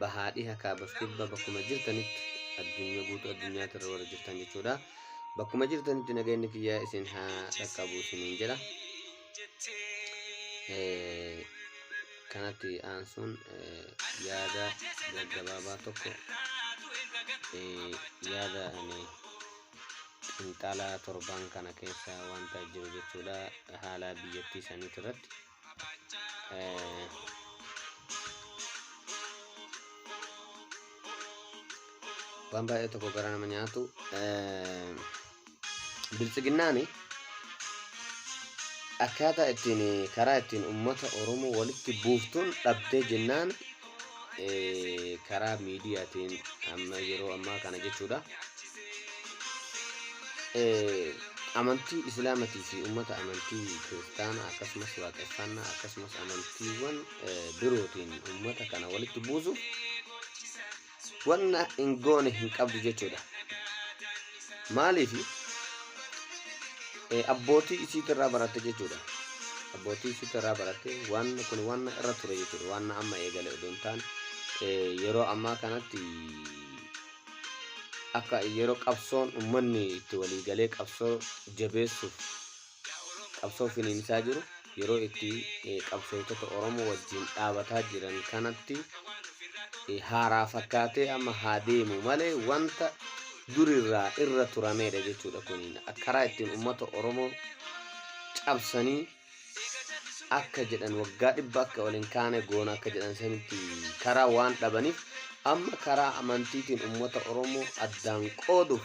bahaa dhiha kaabaf kibba bakkuma jirtanitti addunyaa guutuu addunyaatti irra warra jirtan jechuudha. Bakkuma jirtanitti nageenyi kiyyaa isin haa dhaqqabu isiniin jedha. Eh, Kanatti aansuun eh, yaada gaggabaabaa tokko eh, yaada ani xinxalaa torban kana keessa wanta jiru jechuudha haalaa biyyattii saniitti irratti. waan baay'ee tokko gara nama nyaatu biltsiginnaani akkaataa ittiin karaa ittiin uummata Oromoo walitti buuftuun dhabdee jennaan karaa miidiyaatiin amma yeroo ammaa kana jechuudha. Amantii Islaamatii fi uummata amantii kiristaanaa akkasumas waaqeffannaa akkasumas amantiiwwan birootiin uummata kana walitti buusuuf wanna hin goone hin qabdu jechuudha. Maaliif? Abbootii isiitirraa baratte jechuudha. Abbootii isiitirraa baratte waan kun waan irra ture jechuudha. Waan amma eegale odoo hin taane yeroo ammaa kanatti akka yeroo qabsoon uummanni itti walii galee qabsoo jabeessuuf qabsoo finiinsaa jiru yeroo itti qabsootota Oromoo wajjin dhaabataa jiran kanatti haaraa fakkaatee amma haa deemu malee wanta durirraa irra turameedha jechuudha kuniin karaa ittiin uummata Oromoo cabsanii akka jedhan waggaa dhibba akka ol hin kaane goona akka jedhan sanitti karaa waan dhabaniif amma karaa amantiitiin uummata Oromoo addaan qooduuf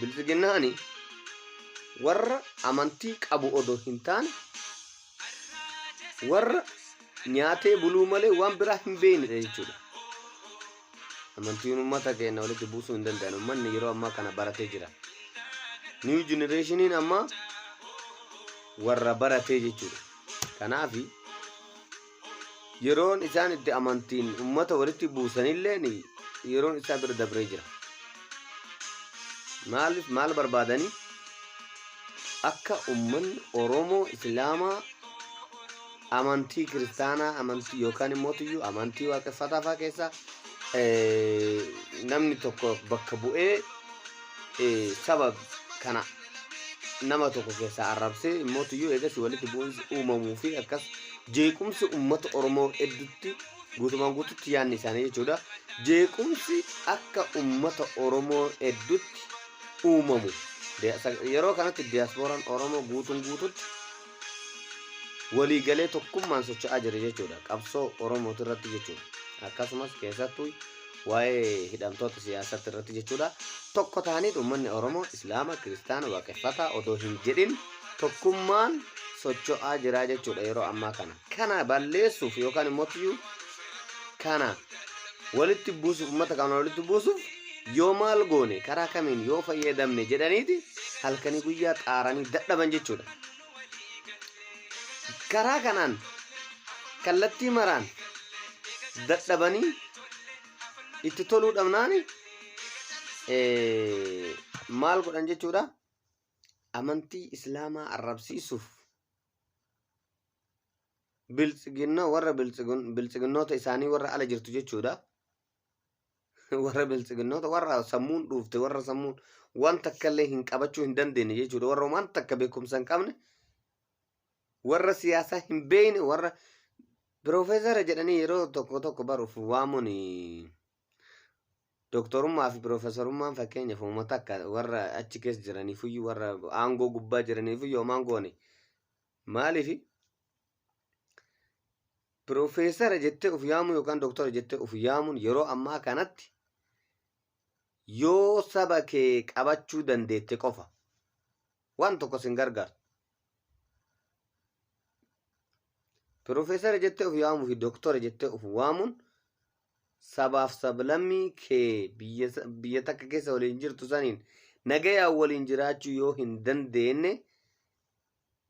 Bilxiginnaani warra amantii qabu odoo hin taane warra nyaatee buluu malee waan biraa hin beeknedha jechuudha. Amantiin uummata keenya walitti buusuu hin danda'an. Uummanni yeroo ammaa kana baratee jira. Niiw jenereeshiniin ammaa warra baratee jechuudha. Kanaafi yeroon isaan itti amantiin ummata walitti buusanilleen yeroon isaa bira dabree jira. Maaliif maal barbaadanii akka ummanni Oromoo Islaamaa amantii kiristaanaa amantii yookaan immoo tuyyuu amantii waaqeffataa fa'aa keessaa eh, namni tokko bakka bu'ee eh, saba kana nama tokko keessaa arrabsee mootiyyuu eegas walitti bu'insi uumamuu fi akkas jeequmsi uummata Oromoo hedduutti guutumaan guututti yaadni isaanii jechuudha. Jeequmsi akka uummata Oromoo hedduutti uumamu. Diya- sa- Yeroo kanatti diyaaspooraan Oromoo guutuun guututti waliigalee tokkummaan socho'aa jira jechuudha qabsoo oromooti irratti jechuudha akkasumas keessattuu waa'ee hidhamtoota siyaasatti irratti jechuudha tokko ta'aniit uummanni oromoo islaama kiristaana waaqeffataa odoo hin jedhin tokkummaan socho'aa jira jechuudha yeroo ammaa kana kana balleessuuf yookaan immoo tiyyuu kana walitti buusuuf uummata kana walitti buusuuf yoo maal goone karaa kamiin yoo fayyadamne jedhaniiti halkanii guyyaa xaaranii dadhaban jechuudha. Karaa kanaan kallattii maraan dadhabanii itti toluu dhabnaani eh, maal godhan jechuudha amantii islaamaa arrabsiisuuf biltsiginna warra biltsigun biltsiginnoota isaanii warra ala jirtu jechuudha. Warra biltsiginnoota warra sammuun dhuufte warra sammuun waan takka illee hin qabachuu hin dandeenye jechuudha. Warra waan takka beekumsa hin qabne warra siyaasaa hin beekne warra piroofeesara jedhanii yeroo tokko tokko baruuf waamuun doktorummaa fi piroofeesarummaan fakkeenyaaf uummata akka warra achi keessa jiraniifuyyuu warra aangoo gubbaa jiraniifuyyuu homaan goone. Maaliif piroofeesara jettee of yaamuu yookaan doktara jettee of yaamuun yeroo ammaa kanatti yoo saba kee qabachuu dandeette qofa waan tokko sin gargaartu. Piroofeesara jettee of yaamuu fi doktara jettee of waamuun sabaaf sablammii kee biyya sa- biyya takka keessa waliin jirtu saniin nagayaan waliin jiraachuu yoo hin dandeenye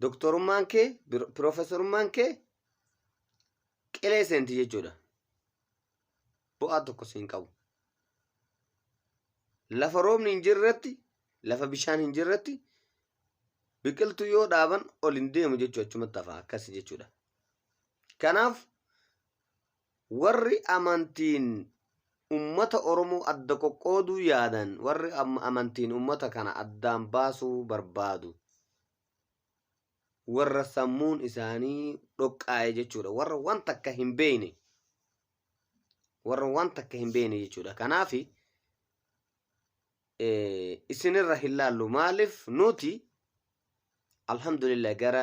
doktorummaan kee bir- piroofeesarummaan kee qilee seenti jechuudha bu'aa tokko siin qabu lafa roobni hin jirretti lafa bishaan hin jirretti biqiltuu yoo dhaaban ol hin deemu jechuu achumatti hafa akkas jechuudha kanaaf Warri amantiin ummata Oromoo adda qoqqooduu yaadan, warri amantiin ummata kana addaan baasuu barbaadu warra sammuun isaanii dhoqqaa'e jechuudha. Warra waan takka hin beeyne. Warra waan takka hin beeyne jechuudha. Kanaaf isinirra hin laallu. Maaliif nuti alhamdulillah gara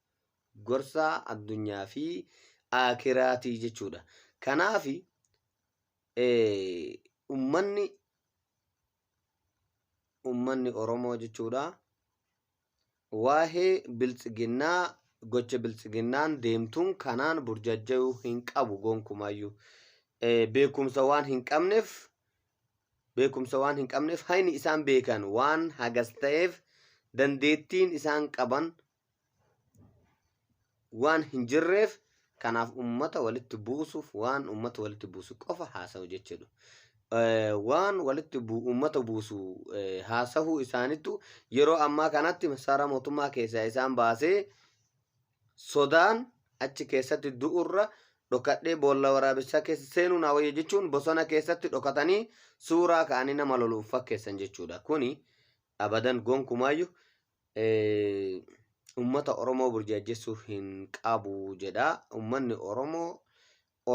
gorsa addunyaa fi aakiraati jechuudha. Kanaaf ummanni ummanni Oromoo jechuudha waa'ee biltsiginnaa gocha biltsiginnaan deemtuun kanaan burjajjayuu hin qabu gonkumaayyuu. Beekumsa waan hin qabneef beekumsa waan hin qabneef hayni isaan beekan waan hagas ta'eef dandeettiin isaan qaban waan hin jirreef kanaaf ummata walitti buusuuf waan ummata walitti buusu qofa haasa'u jechuudha. Eh, Waan walitti bu- ummata buusu eh, haasa'uu isaaniitu yeroo ammaa kanatti masaaraa mootummaa keessaa isaan baasee sodaan achi keessatti du'urra dhokadhee boolla waraabessaa keessa seenuu naa wayya jechuun bosona keessatti dhokatanii suuraa ka'anii nama loluuf fakkeessan jechuudha. Kuni abadan gonkumaayyu Uummata Oromoo burjaajjessuu hin qabu jedha. Uummanni Oromoo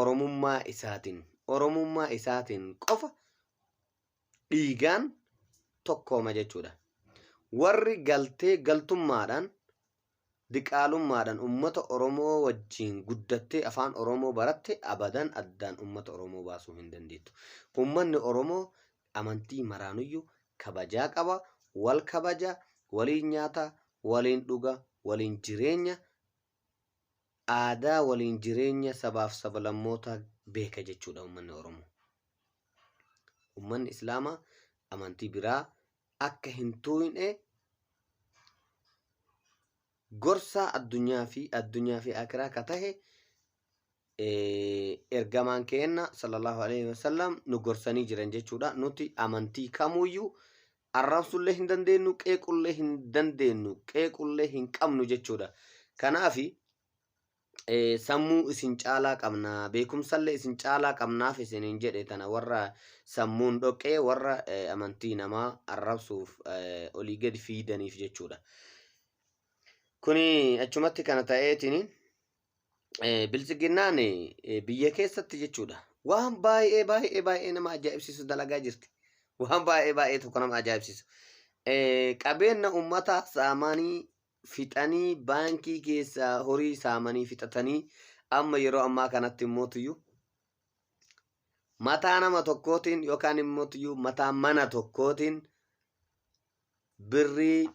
Oromummaa isaatiin, Oromummaa isaatiin qofa dhiigaan tokkooma jechuudha. Warri galtee galtummaadhaan, diqaalummaadhaan uummata Oromoo wajjin guddattee afaan Oromoo baratte abadan addaan uummata Oromoo baasuu hin dandeettu. Uummanni Oromoo amantii maraanuyyu kabajaa qaba wal kabaja waliin nyaata waliin dhuga waliin jireenya aadaa waliin jireenya sabaaf sabalammootaa beeka jechuudha ummanni oromoo ummanni islaamaa amantii biraa akka hin tuuyne gorsaa addunyaa fi addunyaa fi akiraa ka tahe ergamaan keenna sallallahu alaihi wasallam nu gorsanii jiran jechuudha. Nuti amantii kamuyyuu arrabsullee hin dandeenyu, qeequllee hin dandeenyu, qeequllee hin qabnu jechuudha. Kanaaf sammuu isin caalaa qabna, beekumsallee isin caalaa qabnaaf isiniin jedhe tana warra sammuun dhoqqee warra amantii namaa arrabsuuf olii gadi fiidaniif jechuudha. Kuni achumatti kana ta'eetiin eh, biltsiginnaan eh, biyya keessatti jechuudha. Waan baay'ee baay'ee baay'ee nama ajaa'ibsiisu dalagaa jirti. Waan baay'ee baay'ee tokko nama ajaa'ibsiisu. Eh, Qabeenya uummataa saamanii fixanii baankii keessaa horii saamanii fixatanii amma yeroo ammaa kanatti immoo tuyyuu mataa nama tokkootiin yookaan immoo tuyyuu mataa mana tokkootiin birrii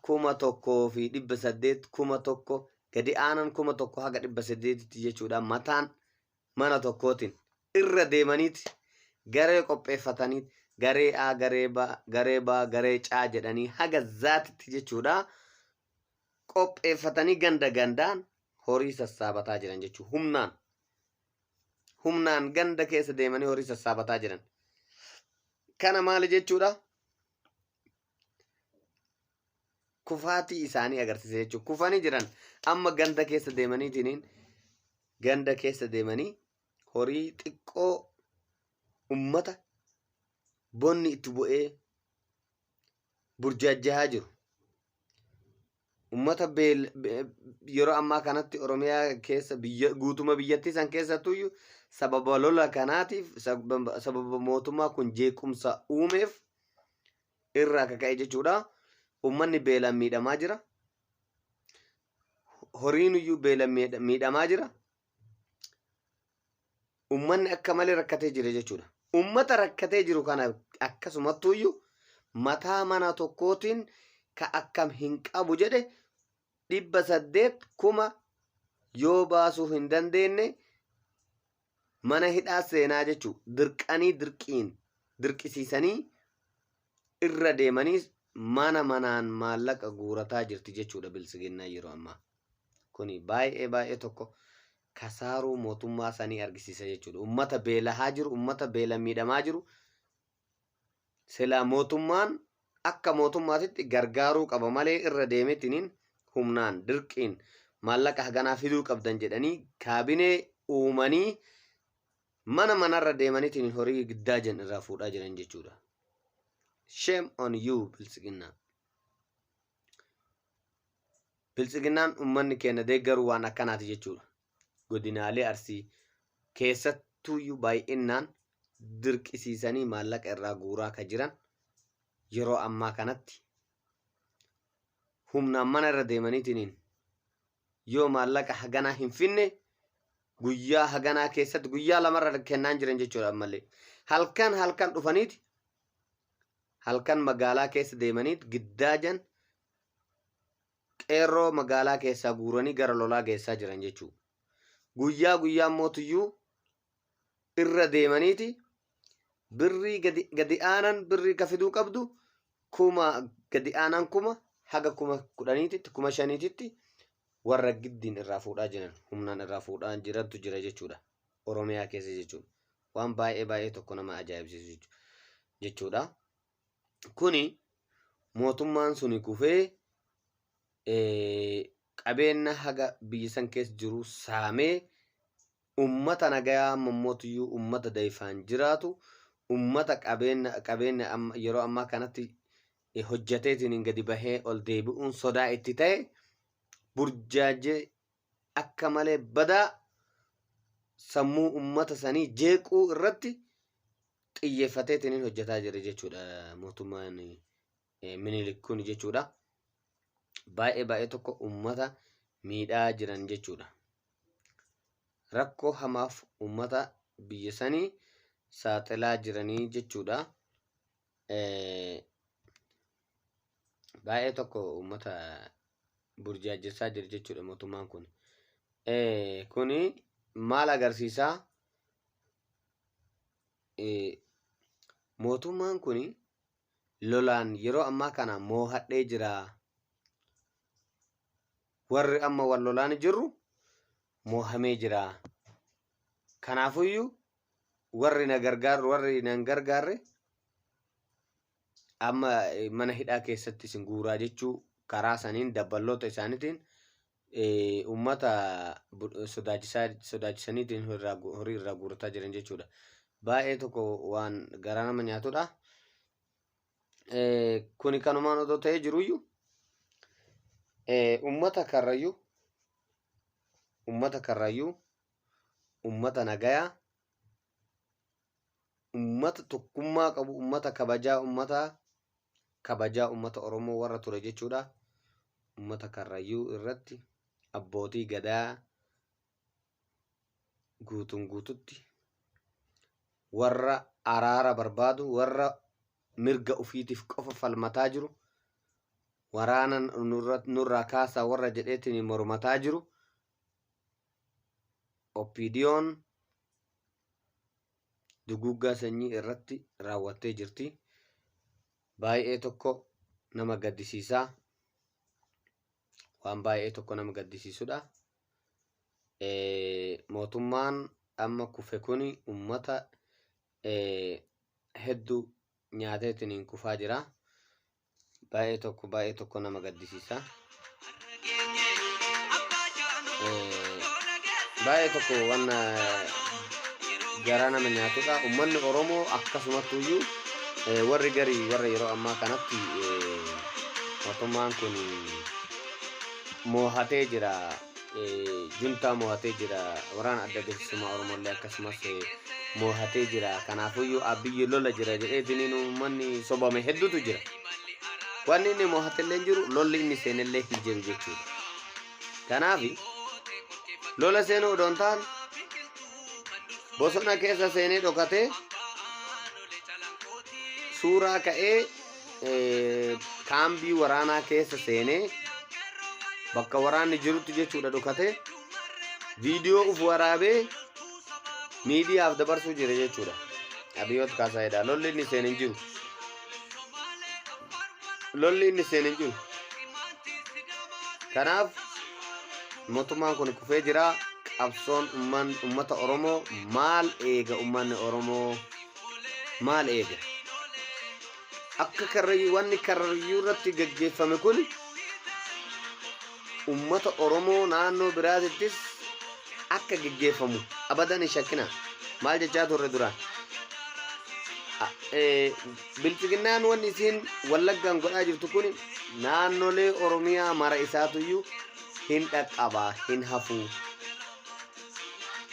1,800, 1,000, gadi aanan 1,000 haga 800tti jechuudha mataan mana tokkootiin irra deemaniiti garee qopheeffatanii garee A, garee B, garee B, garee C jedhanii haga zaatitti jechuudha qopheeffatanii ganda gandaan horii sassaabataa jiran jechuudha humnaan. Humnaan ganda keessa deemanii horii sassaabataa jiran. Kana maali jechuudha? kufaatii isaanii agarsiisa jechuudha. Kufanii jiran amma ganda keessa deemaniitiin ganda keessa deemanii horii xiqqoo ummata bonni itti bu'ee burjaajjahaa jiru. ummata beel- be- yeroo ammaa kanatti Oromiyaa keessa biyya guutuma biyyattii san keessattuyyuu sababa lola kanaatiif sababa sababa mootummaa kun jeequmsa uumeef irraa akka ka'e jechuudha. Ummanni beelaan miidhamaa jira. Horiin iyyuu beelaan miidha- miidhamaa jira. ummanni akka malee rakkatee jira jechuudha. Ummata rakkatee jiru kana akkasumattuuyyu mataa mana tokkootiin ka akkam hin qabu jedhe dhibba saddeet kuma yoo baasuu hin dandeenye mana hidhaa seenaa jechuu dirqanii dirqiin dirqisiisanii irra deemanii mana manaan maallaqa guurataa jirti jechuudha biltsiginnaan yeroo ammaa. Kuni baay'ee baay'ee tokko kasaaruu mootummaa sanii argisiisa jechuudha. Ummata beelahaa jiru, ummata beela miidhamaa jiru silaa mootummaan akka mootummaatitti gargaaruu qaba malee irra deemetiniin humnaan dirqiin maallaqa haganaa fiduu qabdan jedhanii kaabinee uumanii Mana manarra deemanitiin horii giddaa jen irraa fuudhaa jiran jechuudha. Shame on you biltsiginnaa. Biltsiginnaan ummanni keenya deeggaru waan akkanaati jechuudha. Godinaalee Arsii keessattuuyyuu baay'innaan dirqisiisanii maallaqa irraa guuraa ka jiran yeroo ammaa kanatti humnaan mana irra deemaniitiin yoo maallaqa haganaa hin finne guyyaa haganaa keessatti guyyaa lamarra kennaan jiran jechuudha ammallee halkan halkan dhufaniiti halkan magaalaa keessa deemaniit giddaajan qeerroo magaalaa keessaa guuranii gara lolaa geessaa jiran jechuudha guyyaa guyyaa mootiyyuu irra deemaniiti birrii gadi, gadi aanan birrii ka fiduu qabdu kuma gadi aanan kuma haga kuma kudhaniititti kuma shaniititti warra giddiin irraa fuudhaa jiran humnaan irraa fuudhaa jirantu jira jechuudha oromiyaa keessa jechuudha waan baay'ee baay'ee tokko nama ajaa'ibsiisu jechu- jechuudha kuni mootummaan suni kufee eh, qabeenya haga biyya san keessa jiru saamee ummata nagayaa amma immootuyyu ummata dayfaan jiraatu ummata qabeenna qabeenna amma yeroo ammaa kanatti eh, hojjateetiin gadi bahee ol deebi'uun sodaa itti ta'e burjaajee akka malee badaa sammuu ummata sanii jeequu irratti xiyyeeffateetiin hojjataa jira jechuudha mootummaan Minilik kun jechuudha. Baay'ee baay'ee tokko uummata miidhaa jiran jechuudha. Rakkoo hamaaf uummata biyya sanii saaxilaa jiranii jechuudha. Baay'ee tokko uummata burjaajessaa jira jechuudha mootummaan kun. Kuni maal agarsiisaa? Mootummaan kuni lolaan yeroo ammaa kana moohadhee jira. Warri amma wal lolaan jirru moohamee jira. Kanaafuyyuu warri na gargaarru warri nan gargaarre amma mana hidhaa keessatti isin guuraa jechuu karaa saniin dabballoota isaaniitiin uummata sodaachisaa sodaachisaniitiin horii irraa guurrataa jiran jechuudha. Baay'ee tokko waan garaa nama nyaatudha. Kuni kanumaan otoo ta'ee jiruyyuu uummata karrayyuu uummata karrayyuu uummata nagayaa ummata tokkummaa qabu, ummata kabajaa ummataa, kabajaa ummata Oromoo warra ture jechuudha. Ummata Karrayyuu irratti abbootii gadaa guutuun guututti warra araara barbaadu, warra mirga ufiitiif qofa falmataa jiru, waraana nurra- nurraa kaasaa warra jedheetiin mormataa jiru, OPDOn duguuggaa sanyii irratti raawwattee jirti. Baay'ee tokko nama gaddisiisaa waan baay'ee tokko nama gaddisiisudha. Mootummaan amma kufe kun uummata hedduu nyaateetiin kufaa jira. baay'ee tokko baay'ee tokko nama gaddisiisa. Baay'ee tokko waan garaa nama nyaatudha. Uummanni Oromoo akkasumatti iyyuu warri garii warra yeroo ammaa kanatti mootummaan kun moohatee jira. juntaa mo'atee jira waraana adda bilisummaa oromollee akkasumas mo'atee jira kanaafuyyuu abiyyi lola jira jedheetiniin uummanni sobame hedduutu jira wanni inni mo'atellee hin jiru lolli inni seenellee hin jiru jechuudha kanaaf lola seenuu odoo hin taane bosona keessa seenee dhokatee suuraa ka'ee kaambii waraanaa keessa seenee bakka waraanni jirutti jechuudha dhokate viidiyoo uf waraabee miidiyaaf dabarsuu jira jechuudha. Abiyoot Kaasaayidha. Lolli inni seenan jiru. Lolli inni seenan jiru. Kanaaf mootummaan kun kufee jira. Qabsoon ummata Oromoo maal eega ummanni Oromoo? maal eega? Akka karrayyuu wanni karrayyuu irratti gaggeeffame kun ummata Oromoo naannoo biraatittis akka gaggeeffamu abadan hin shakkinaa. Maal jechaa turre duraan? A- eh, Bilxiginnaan wanni isiin wallaggaan godhaa jirtu kun naannolee Oromiyaa mara isaatuyyuu hin dhaqqabaa hin hafuu.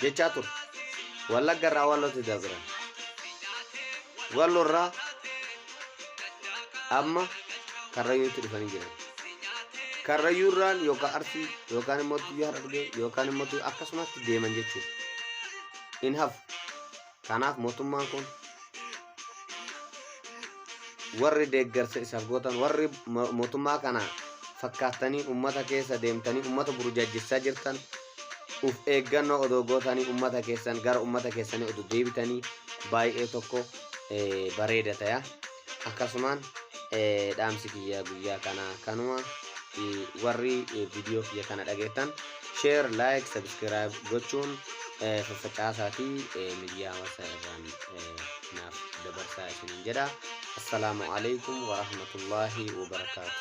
jechaa ture. Wallagga irraa Wallootti dabran. Walloo irraa amma Karrayyuutti dhufanii jiran. Karrayyuu irraan yookaan Arsii yookaan immoo tuyyaa Harargee yookaan immoo tuyyaa akkasumatti deeman jechuudha. In hafu. Kanaaf mootummaan kun warri deeggarsa isaaf gootan warri mo- mootummaa kana fakkaattanii ummata keessa deemtanii ummata burjaajjessaa jirtan uf eeggannoo odoo gootanii ummata keessan gara ummata keessanii odoo deebitanii baay'ee tokko eh, bareeda ta'a. akkasumaan eh, dhaamsi kiyya guyyaa kana kanuma eh, warri eh, viidiyoo kiyya kana dhageettan share like subscribe gochuun eh, faffacaasaa fi eh, miidiyaa hawaasaa irraan eh, naaf dabarsaa isiniin jedha assalaamu alaikum warahmatullaahi wabarakaatu